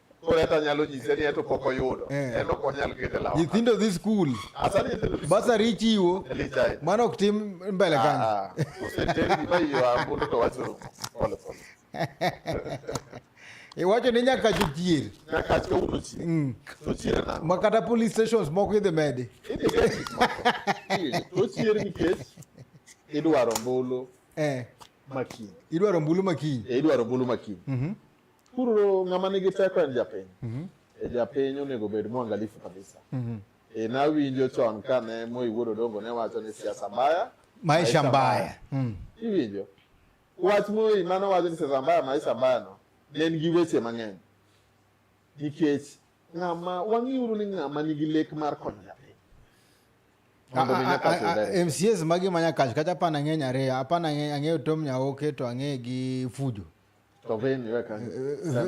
nyithindo dhi skul basari ichiwo mano ok tim mbele kanyo iwacho ni nyaka chochier mm. ma kata police stations moko idhi medi idwaro mbulu eh. makiny idwaro mbulu makiny eh, idwaro mbulu makiny mhm. Kuro ng'ama nigi teko en japiny. Mm -hmm. E japiny onego bed mwangalifu kabisa. Mm -hmm. E nawinjo chon kane Moi Wuod Odongo ne wacho ni siasa mbaya maisha mbaya. Mm. Iwinjo. Wach Moi mano wacho ni siasa mbaya maisha mbaya no ne en gi weche mang'eny. Nikech ng'ama wang'iuru ni ng'ama nigi lek mar konyo japiny. MCAs magi manya kacho kata apana ng'eny ariyo apana ang'eyo Tom Nyaoke to ang'eyo gi Fujo. To vein iwe kanyo.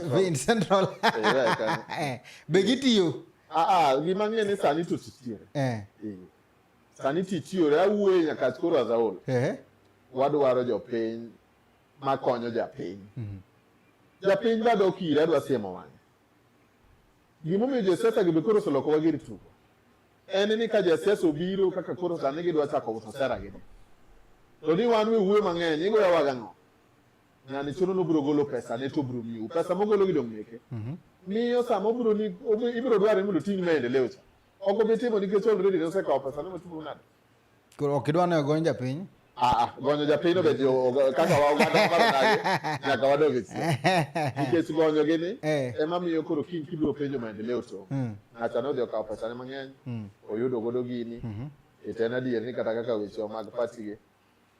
Vein central. Iwe kanyo. Eh, be gitiyo? Ah ah, gima ng'e ni sani to titiyo. Eh. eh. Sani titiyo ra wuoye nyaka koro azaol. Eh. Wadwaro jopiny makonyo japiny. Mm -hmm. Japiny bado okira adwa siemo wang'e. Gimomiyo josiasa gi be koro oseloko wagir tugo en ni ka jasiasa obiro kaka koro sani gidwa chako uso sera gi to ni wan we wuoyo mang'eny igoyawaga ng'o na ni choro no bro golo pesa ne to bro miu pesa mo golo gidong meke mhm. miyo sa mo bro ni ibro dware mondo ting maendeleo cha ogo bi timo nikech already ne osekawo pesa ne motimo nade koro ok idwa ne ogony japiny ah, ah, gonyo japiny obet kaka wawadage nyaka wadog e chien nikech gonyo gi ni eh. ema miyo koro kiny kibiro penjo maendeleo to hmm. ng'acha ne odhi okawo pesane mang'eny hmm. oyudo godo gini mhm. ite en adier ni kata kaka weche mag patigi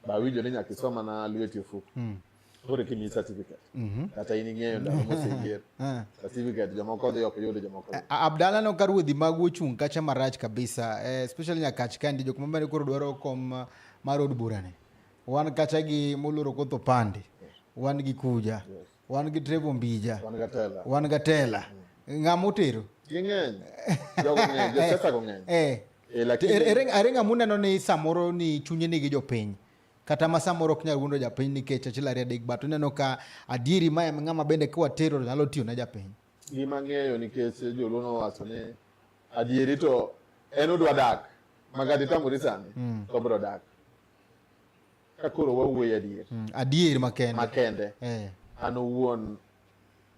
bawinjo ni nyaka isoma na lweti ofuko mm. koro kimiyi certificate mhm. kata in ing'eyo ndalo moseyier eh. certificate jomoko odhi ok yudo jomoko eh, abdala no ka ruodhi magu ochung' kacha marach kabisa eh, especially nyakach kandi jok mamane koro dwaro kom mar od burani wan kacha gi moloro kotho pande wan gi kuja yes. wan gi Trevor Mbija, wan Gatela, wan Gatela. Mm. ng'ama otero ging'eny jogo ng'eny josiasa go ng'eny eh. eh, lakini er, er, ere ng'ama uneno ni samoro ni chunye nigi jopiny kata ma samoro ok nyal wuondo japiny nikech achiel ariyo adek but uneno ka adieri ma ng'ama bende kiwatero nyalo tiyo na japiny gima ng'eyo nikech joluo nowacho ni adieri to en udwa dak magadi tamori sani mm. to bro dak ka koro wawuoyo adier mm, adier makende makende eh. an owuon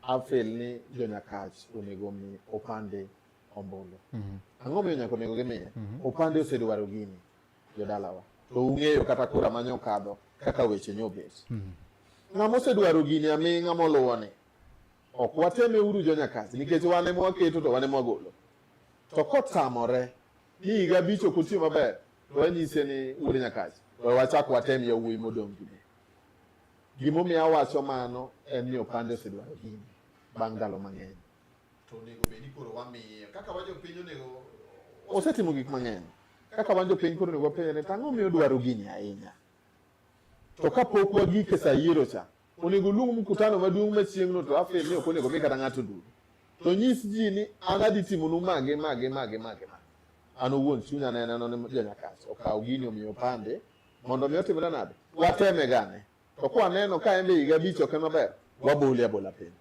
afel ni jonyakach onego mi opande ombulu mm -hmm. ang'o miyo nyaka onego gimiye mm -hmm. opande osedwaro gini jodalawa to ung'eyo kata kura ma nyokadho kaka weche nyobet mm -hmm. ng'ama osedwaro gini aming'a moluwoni ok wateme uru jonyakach nikech wane mwaketo to wane mwagolo to kotamore ni higa abich ok otiyo maber to wanyise ni un nyakacha we wachak watem yawuoyi modong' gi mine gimomiyo awacho mano en ni opande osedwaro gini bang' ndalo mang'eny to onego bed ni koro wamiye kaka wajo piny onego osetimo gik mang'eny kaka wan jopiny koro onego wapenjre to ang'o miyo odwaro gini ahinya to kapok wagike sa yiero cha Onego oluong mkutano maduong' machieng'no to afel ni ok onego mi kata ng'ato duto. To nyis ji ni an adhi timonu mage mage mage mage mage. An owuon chunya ne neno ni janyakach okaw gini omiyo pande mondo mi otimre nade? Wateme gane. To kwa neno ka en be higa abich ok en maber, wabole abola piny.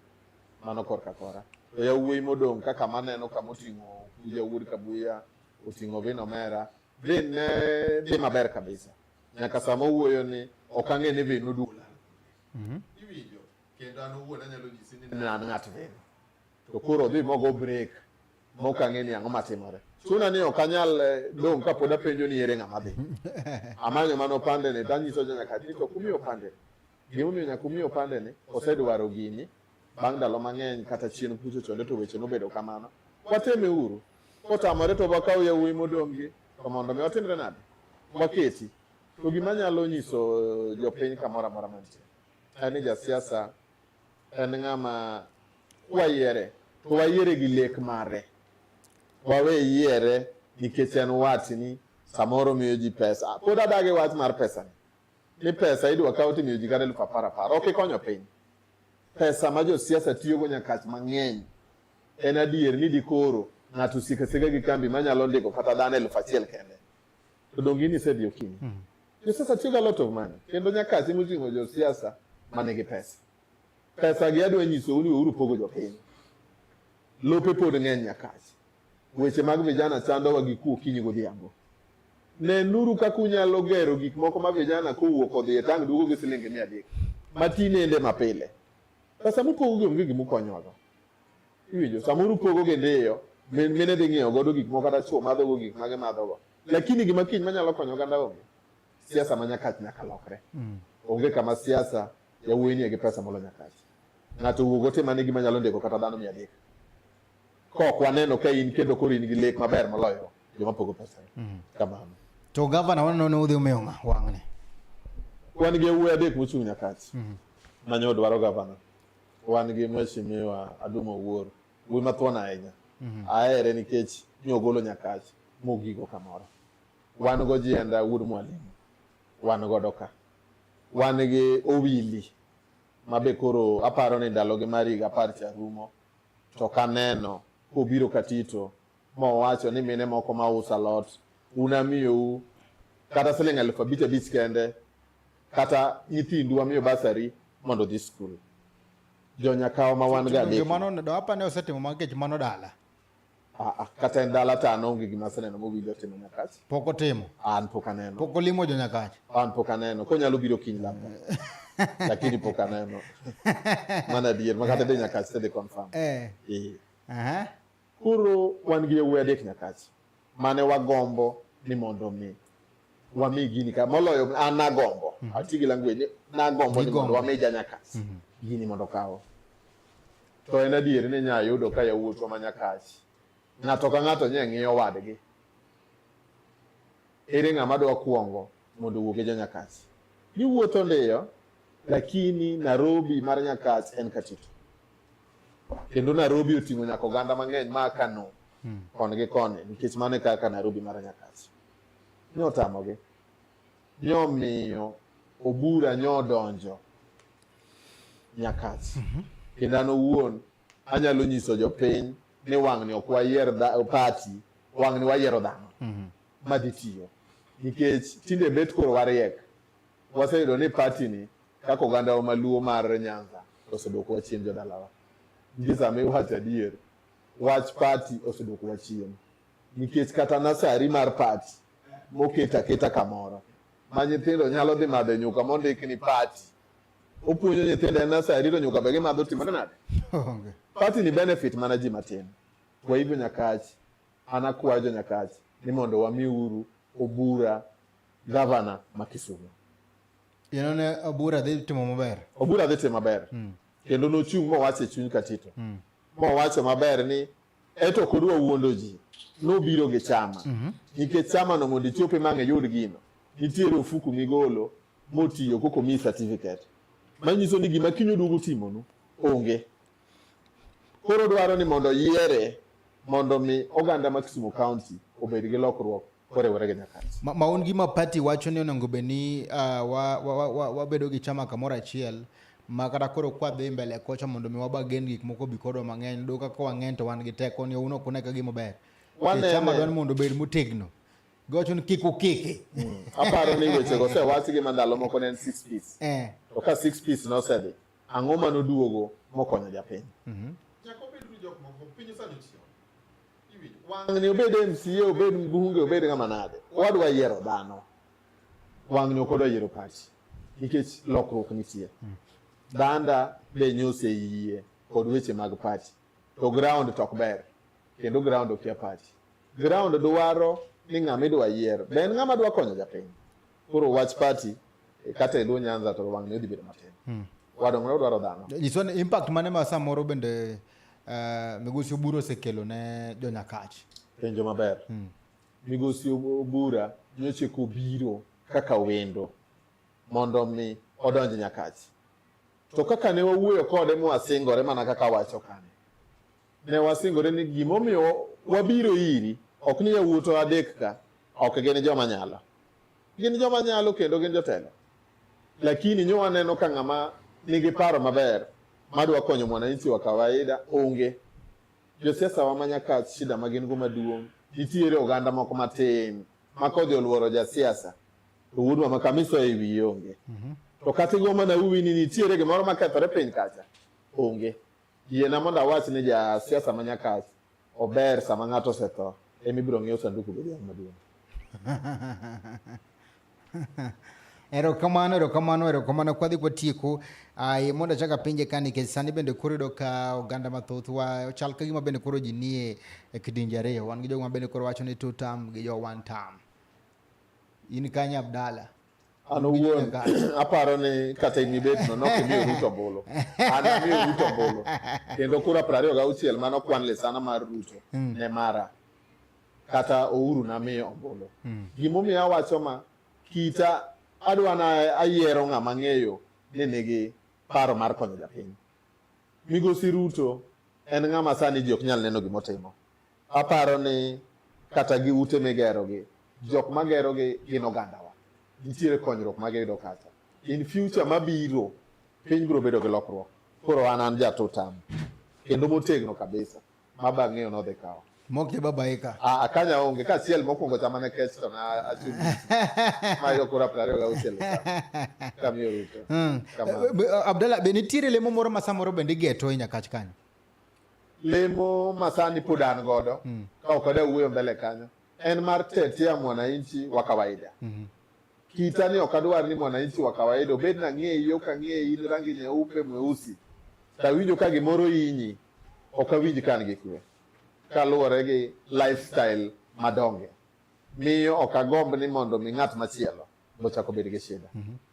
Mano korka kora. To yawuoyi modong' kaka maneno kama oting'o Kuja Wuod Kabuya, oting'o Vin Omera, Vin ne dhi maber kabisa. nyaka sama owuoyo ni ok ang'e ni vin odula mhm. iwinjo kendo an owuon anyalo nyisi ni an ng'at vin to koro odhi mogo break mok ang'e ni ang'o matimore chuna ni ok anyal eh, dong' kapod apenjo ni ere ng'ama dhi amanyo mana opande ni tanyiso jo nyaka ni to kumi opande ni gimomiyo nyaka umi opande ni osedwaro gini bang' ndalo mang'eny kata chien kucho chonde to weche nobedo kamano wateme uru kotamore to wakaw yawuoyi modong'gi to mondo mi watimre nade waketi to gima nyalo nyiso eh, jopiny kamoro amora mantie en ni jasiasa en ng'ama kwayiere to wayiere gi lek mare wawe yiere nikech en watni samoro miyo ji pesa pod adagi wach mar pesa ni pesa idwa kawo timiyo ji kata elfu apar apar ok ikonyo piny pesa ma josiasa tiyogo nyakach mang'eny En adier ni dikoro ng'ato osik asika gi kambi manyalo ndiko kata dhano elfu achiel kende to donge in isedhi okinyi mm. josiasa tiyoga lot of money kendo nyakasi moting'o josiasa manigi pesa pesa gi adwa nyisou ni weuru pogo jopiny lope pod ng'eny nyakasi weche mag vijana chandowa gi kuo kinyi godhiambo nenuru kaka unyalo gero gik moko ma vijana kowuok odhi e tang' duogo gi silingi mia adek matinende mapile pesa mupogo gi onge gimukonyowago iwinjo samoro upogo gi ndiyo min mine dhi ng'iewo godo gik moko kata chwo madhogo gik ma gimadhogo lakini gima kiny manyalo konyo oganda onge siasa ma nyakach nyaka lokre mm. onge kama siasa yawuoyi nie gi pesa molo nyakach ng'ato wuog ote mane gima nyalo ndiko kata dhano mia adek kok waneno ka in kendo koro in gi lek maber moloyo joma pogo pesa mm. kamano to gavana waneno ne udhi umiyo ng'a wang'ni wan gi yawuoyi adek mochung' nyakach mm. manyo dwaro gavana Wan gi Mheshimiwa Adum Owuor, wuoyi mathuon ahinya. Mhm. Ahere nikech ne ogolo Nyakach mogigo kamoro. Wan go Jienda wuod Mwalimu, wan godo ka. Wan gi Owili ma be koro aparo ni ndalogi mar higa apar cha rumo to kaneno kobiro Katito mowacho ni mine moko ma uso alot unamiyou kata siling' alufu abich abich kende kata nyithindu wamiyo basari mondo dhi skul jonyakawa ma wan ga adekmanoapane osetimo makech mano dala ah, ah, kata en dala ta anonge gima aseneno mowinjo timo nyakach pok otimo an pok aneno pok olimo jonyakach an pok aneno konyalo biro kiny labda lakini pok aneno mana adier makata de nyakach tedhi confirm eh. Eh. Koro wan gi yawuoyi adek nyakachi mane wagombo ni mondo mi wami gini ka moloyo an nagombo mm -hmm. atigi language nagombo ni mondo wami janyakachi mm -hmm. gini mondo kawo to en adier ni nya yudo ka yawuotwa ma nyakachi ng'ato ka ng'ato nye ng'iyo wadgi ere ng'ama dwa kuongo mondo owuog e Janyakach. Giwuotho ndiyo, lakini Nairobi mar Nyakach en Katitu. Kendo Nairobi oting'o nyaka oganda mang'eny ma Kano hmm. koni gi koni nikech mano e kaka Nairobi mar Nyakach. Nyotamogi. Nyomiyo obura nyodonjo Nyakach. Mhm. Kendo an owuon anyalo nyiso jopiny ni wang'ni ok wayier pati, wang'ni wayiero dhano. Mhm. madhi tiyo nikech tinde bet koro wariek waseyudo ni party ni kaka oganda wa maluo mar Nyanza osedwokowa chien jodalawa nikech sama iwacho adier wach party osedwokowa chien nikech kata nasari mar party moket aketa kamoro ma nyithindo nyalo dhi madhe nyuka mondik ni party opuonjo nyithindo en nasari to nyuka be gimadho timore nade party ni benefit mana ji matin kwa hivyo nyakach An akwayo Jonyakach ni mondo wamiuru Obura gavana ma Kisumu. Yeno ne Obura dhi timo maber. Obura dhi timo maber. Mm. Kendo nochung' mowacho e chuny Katito. Mm. Mowacho maber ni eto kod wawuondo ji nobiro gi chama mm -hmm. nikech chama no mondo ichope mang' iyud gino nitiere ofuku migolo motiyo koko mi certificate manyiso ni gima kinyo duogo timonu onge Koro dwaro ni mondo yiere mondo mi oganda ma Kisumu County obed gi lokruok koriwore gi Nyakach. Ma, maun gi ma party wacho ni onego bed ni uh, wabedo wa, wa, wa, wa gi chama kamoro achiel ma kata koro kwadhi mbele kocha mondo mi waba gen gik moko bi kodwa mang'eny do kaka wang'eny to wan gi teko ni uno kuna ka gima ber. Wanene. Chama dwan mondo bed motegno. Gocho ni kik ukiki. Hmm. Aparo ni weche go se wasi gi mandalo moko ne 6 piece. Eh. To ka 6 piece no sedhi. Ang'o ma noduogo mokonyo japiny? Mhm. Wang'ni obed MCA, obed mbunge, obed ng'ama nade, wadwa yiero dhano. Wang'ni ok odwa yiero pati nikech lokruok nitie. Mm. Danda be nyose yie kod weche mag pati to ground to ok ber kendo ground okia pati. Ground dwaro ni ng'ama idwa yier be en ng'ama dwa konyo japiny. koro wach party e, kata e luo nyanza to wang'ni odhi bedo matin hmm. wadong'ne odwaro dhano nyiso ni impact mane ma samoro bende uh, migosi obura osekelo ne jonyakach penjo maber hmm. migosi obura nyoche kobiro kaka wendo mondo mi odonj nyakach to kaka ne wawuoyo kode mwasingore mana kaka wacho kane Ne wasingore ni gimomiyo wabiro iri ok ni yawuoto adek ka ok gin joma nyalo, gin joma nyalo kendo gin jotelo, lakini nyo waneno ka ng'ama nigi paro maber madwa konyo mwananchi wa kawaida onge. Josiasa wa ma Nyakach shida ma gin go maduong' nitiere oganda moko matin ma kodhi oluoro jasiasa to wuodwa ma kamiso e wiye onge. Mm -hmm. To kata igo mana uwi ni nitiere gimoro makethore piny kacha onge. Yiena mondo awach ni ja siasa ma Nyakach ober sama ng'ato osetho ema ibiro ng'iew sanduku be dhiang' maduong'. Erokamano, erokamano, erokamano. Kwadhi kwatieko, ai mondo achak apenje ka nikech sani bende koro yudo ka oganda mathoth wa chal ka gima bende koro ji nie e kidienje ariyo. Wan gi jogo ma bende koro wacho ni two term gi jo one term. In kanye Abdalla? an owuon aparo ni kata in ibet no nok imiyo Ruto ombulu an amiyo Ruto ombulu kendo kura piero ariyo gauchiel mane okwan lisana mar Ruto hmm. ne mara kata Uhuru namiyo ombulu hmm. gimomiyo awacho ma kita adwa na ayiero ng'ama ng'eyo ni nigi paro mar konyo japiny migosi Ruto en ng'ama sani ji ok nyal neno gimotimo Aparo ni kata gi ute migerogi, jok magerogi gin ogandawa. Nitiere konyruok ma giyudo kacha. In future mabiro, piny biro bedo gi lokruok. Koro an an jatotam kendo motegno kabisa ma bang'eyo nodhi kawo mok je baba eka a ah, akanya ah, onge ka siel mokwongo chama ne kech to na achun ma yo kura prario ga usiel kamiyo ruto hmm. eh, eh, abdalla be nitiere lemo moro ma samoro bende igeto e nyakach kanyo lemo masani pod an godo mm. ka ok ada wuoyo mbele kanyo en mar tetea mwananchi wa kawaida mm -hmm. kita ni ok adwar ni mwananchi wa kawaida obed na ng'eyi ok ang'eyi in rangi nyeupe mweusi tawinjo ka gimoro inyi ok awinj kan gi kwe kaluwore gi lifestyle madonge miyo ok agomb ni mondo mi ng'at machielo bochako bed gi shida mm -hmm.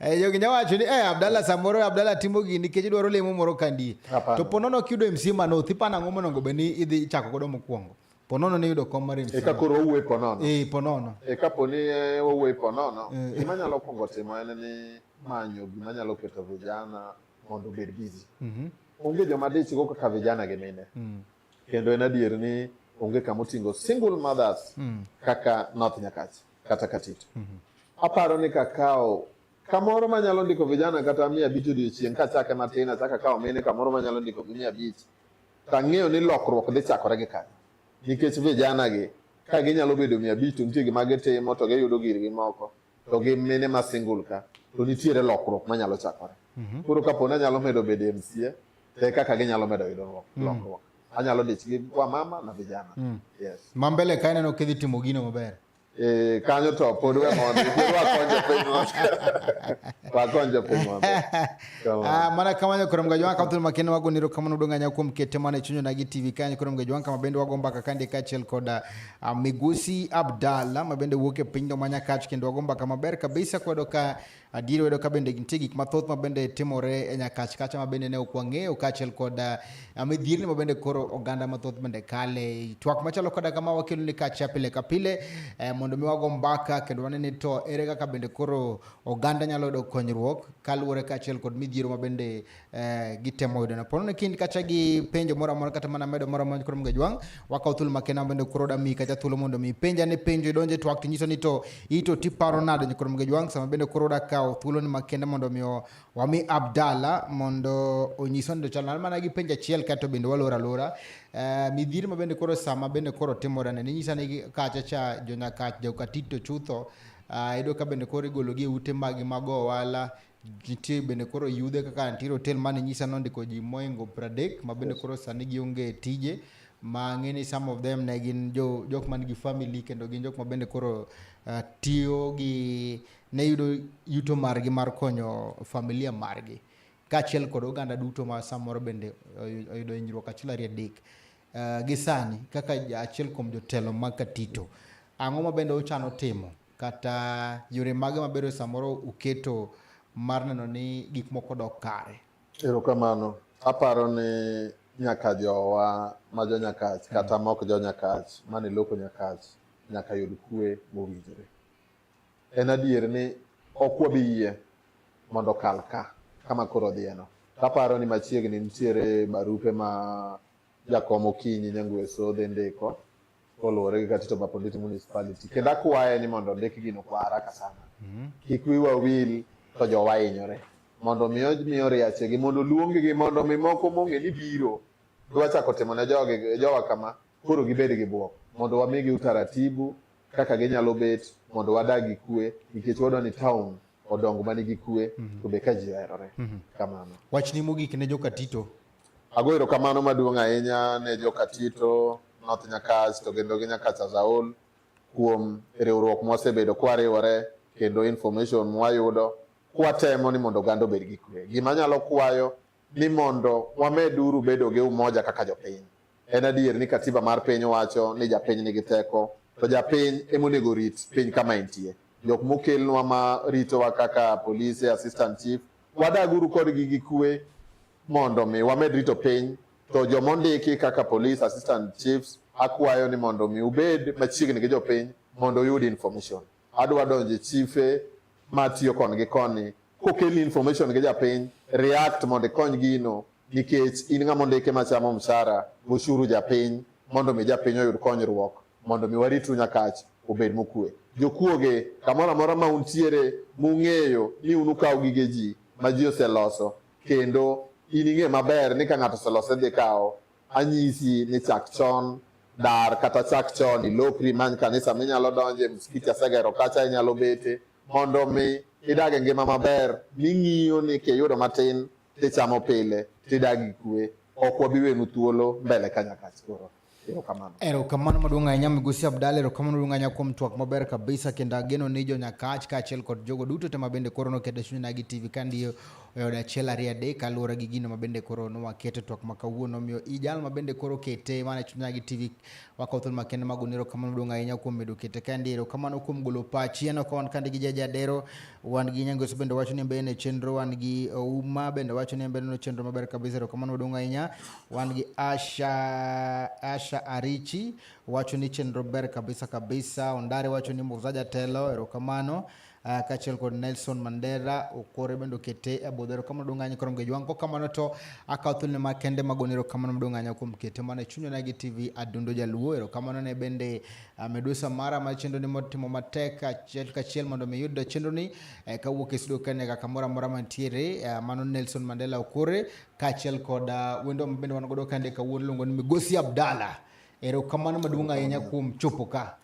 Eh, jogi nya wacho ni eh, Abdalla samoro Abdalla timo gini nikech idwaro lemo moro kandie. To ponono kiyudo MC Manoth ipano ang'o monego bed ni idhi chako godo mokwongo. Ponono ni yudo kom mar MC. Eka koro owuoyo ponono. Eh, ponono. Eka po ni eh, owuoyo ponono, eh. gima nyalo kwongo timo en ni manyo gima nyalo keto vijana mondo obed busy. Mhm. Onge joma dich go kaka vijana gi mine. Mm. Kendo en adier ni onge kama otingo single mothers mm. kaka North Nyakach kata Katito. Mm -hmm. Aparo ni kakawo kamoro manyalo ndiko vijana kata mia abich odiochieng' kachake matin achaka kawo mine kamoro manyalo ndiko gi mia abich to ang'eyo ni lokruok dhi chakore gi kanyo nikech vijana gi ka ginyalo bedo mia abich to nitie gima gitimo to giyudo girgi moko to gi mine ma single ka to nitiere lokruok manyalo chakore mhm. koro kapo ni anyalo medo bedo e mca te kaka ginyalo medo yudo mm. lokruok anyalo dich gi kwa mama na vijana mm. yes ma mbele ka ineno kidhi timo gino maber eh, kanyo to pod we mondo wakonje piny wakonje piny maber ah, mana kamano koro mga jwanka thul makende wago niro kamano dong'anya kuom kete mana e chunyona gi tv kanyo koro mga jwanka mabende wago mbaka kande kaachiel koda Ah, Migosi Abdalla ma bende wuok e piny dho manyakach kendo wago mbaka maber kabisa kwedo ka adier wedo ka bende nitie gik mathoth ma bende timore e nyakach kacha ma bende ne ok wang'eyo kaachiel kod ah, ah, midhierni ma bende koro oganda mathoth bende kale twak machalo koda kama wakelo ni kacha pile ka pile eh, mondo mi wago mbaka kendo wane ni to ere kaka bende koro oganda nyalo yudo konyruok kaluwore kaachiel kod midhiero ma bende eh, gitemo yudo no pono kindi kacha gi penjo moro amora kata mana medo moro amora koro mga jwang wakaw thuolo makena bende koro da mi kacha thuolo mondo mi penja ne penjo idonje twak to nyiso ni to ito ti paro nado ni koro mga jwang sama bende koro da kaw thuolo ni makenda mondo mi wami Abdalla mondo onyiso ndo chal mana gi penja chiel kato bende walora lora eh, midhiri ma bende koro sama bende koro timore ne nyisa ni kacha cha jonyakach jokatito chutho uh, ah, ido ka bende koro igologi e ute magi mago ohala nitie bende koro yudhe kaka nitie hotel mane nyisa nondiko ji moingo pradek ma bende koro sani gionge tije ma ng'e ni some of them ne gin jo jok man gi family kendo gin jok ma bende koro uh, tiyo gi ne yudo yuto margi mar konyo familia margi kaachiel kod oganda duto ma samoro bende oyudo hinyruok achiel ariyo adek uh, gi sani kaka achiel kuom jotelo mag Katito ang'o ma bende uchano timo kata yore mage mabedo samoro uketo mar neno ni gik moko dok kare? Erokamano. Aparo ni nyaka jowa ma jo Nyakach hmm. kata mok jo Nyakach mane loko Nyakach nyaka yud kwe mowinjore. En adier ni ok wabi yie mondo kal ka kama koro odhiyeno. Taparo ni machiegni nitiere barupe ma jakom Okinyi Nyangwe Sodhe ndiko koluwore gi Katito Baponditi Municipality kendo akwaye ni mondo ondik gino kwa haraka sana mhm. kik wiwa wil to jowa hinyore mondo mi omiyo riachegi mondo oluonggi mondo mi moko mong'e ni biro dwa chako timo ne jogi jowa kama koro gibed gi bwok mondo wamigi utaratibu kaka ginyalo bet mondo wadag gi kwe nikech wadwa ni town odong manigi kwe mhm. to be ka ji oherore mhm. kamano wachni mogik ne jokatito Ago erokamano maduong' ahinya ne Jokatito, North Nyakach to kendo gi Nyakach as a whole kuom riwruok mwasebedo kwariwore kendo information mwayudo kwatemo ni mondo oganda obed gi kwe. Gima anyalo kwayo ni mondo wameduru bedo gi umoja kaka jopiny. En adier ni katiba mar piny wacho ni japiny nigi teko, to japiny ema onego rit piny kama entie. Jok mokelnwa ma ritowa kaka polise, assistant chief, wadaguru kodgi gi kwe mondo mi wamed rito piny. To joma ondiki kaka police assistant chiefs, akwayo ni mondo mi ubed machiegni gi jopiny mondo uyud information. adwa donje chife matiyo koni gi koni kokelni information gi japiny react mondo ikony gino nikech in ng'ama ondike machamo mshara goshuru japiny mondo mi japiny oyud konyruok mondo mi waritru nyakach obed mokue jokuoge kamoro amora ma untiere mung'eyo ni un ukawo gige ji ma ji oseloso kendo in ing'e maber ni ka ng'ato oselose dhi kawo Anyisi ni chak chon dar kata chak chon ilokri many kanisa minyalo donje msikiti asegero kacha inyalo bete mondo mi idag e ngima maber ming'iyo ni kiyudo matin tichamo pile tidag gi kwe ok wabi wenu thuolo mbele kanyakach koro erokamano erokamano maduong' ahinya migosi abdala erokamano maduong' ahinya kuom twak maber kabisa kendo ageno ni jonyakach kaachiel kod jogo duto te ma bende koro nokete chunyna gi tv ka ndiyo e od achiel ariyo adek kaluwore gi gino mabende koro nwaketo twak ma kawuono omiyo i jal mabende koro kete mana chunya gi tv wakawo thuolo makende mag onero kamano duong' ahinya kuom medo kete kande ero kamano kuom golo pachi en ok wan kande gi jaja adero wan gi nyangoso bende wacho ni mbele ne chenro wan gi ouma bende wacho ni mbele no chenro maber kabisa ero kamano duong' ahinya wan gi asha asha arichi wacho ni chenro ber kabisa kabisa ondare wacho ni muzaja telo ero kamano Uh, kaachiel kod Nelson Mandera Okore bende okete e budho. Erokamano duong' ahinya koro mgejwang' kokamano to akawo thuolone ma kende magone erokamano maduong' ahinya kuom kete mana e chunywa nagi TV Adundo Jaluo. Erokamano ne bende uh, Medusa Mara ma chenroni motimo matek achiel kachiel mondo mi yud chenroni eh, kawuok e studio kane kaka moro amora mantiere uh, mano Nelson Mandela Okore kaachiel kod uh, wendo ma bende wan godo kande kawuono iluongo ni Migosi Abdalla Erokamano maduong' ahinya kuom chopo ka.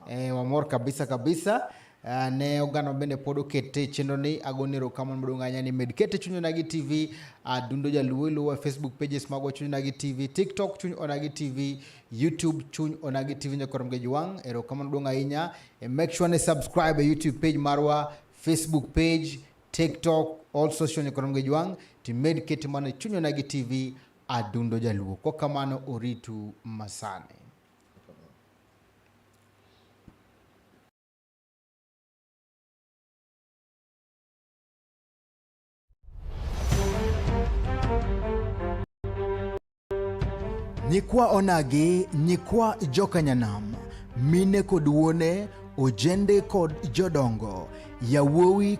Eh, wamor kabisa kabisa. Uh, ne oganda bende pod okete chenro ni agoni erokamano maduong' ahinya ni med kete chuny onagi tv adundo ah, uh, jaluo iluwo e facebook pages magwa chuny onagi tv tiktok chuny onagi tv youtube chuny onagi tv nyaka romge jwang' erokamano maduong' ahinya e make sure ni subscribe e youtube page marwa facebook page tiktok all social nyaka romge jwang' timed kete mana chuny onagi tv Adundo Jaluo. Kwa kamano oritu masani. Nyikwa Onagi, nyikwa Jokanyanam, mine kod wuone, ojende kod jodongo, yawuowi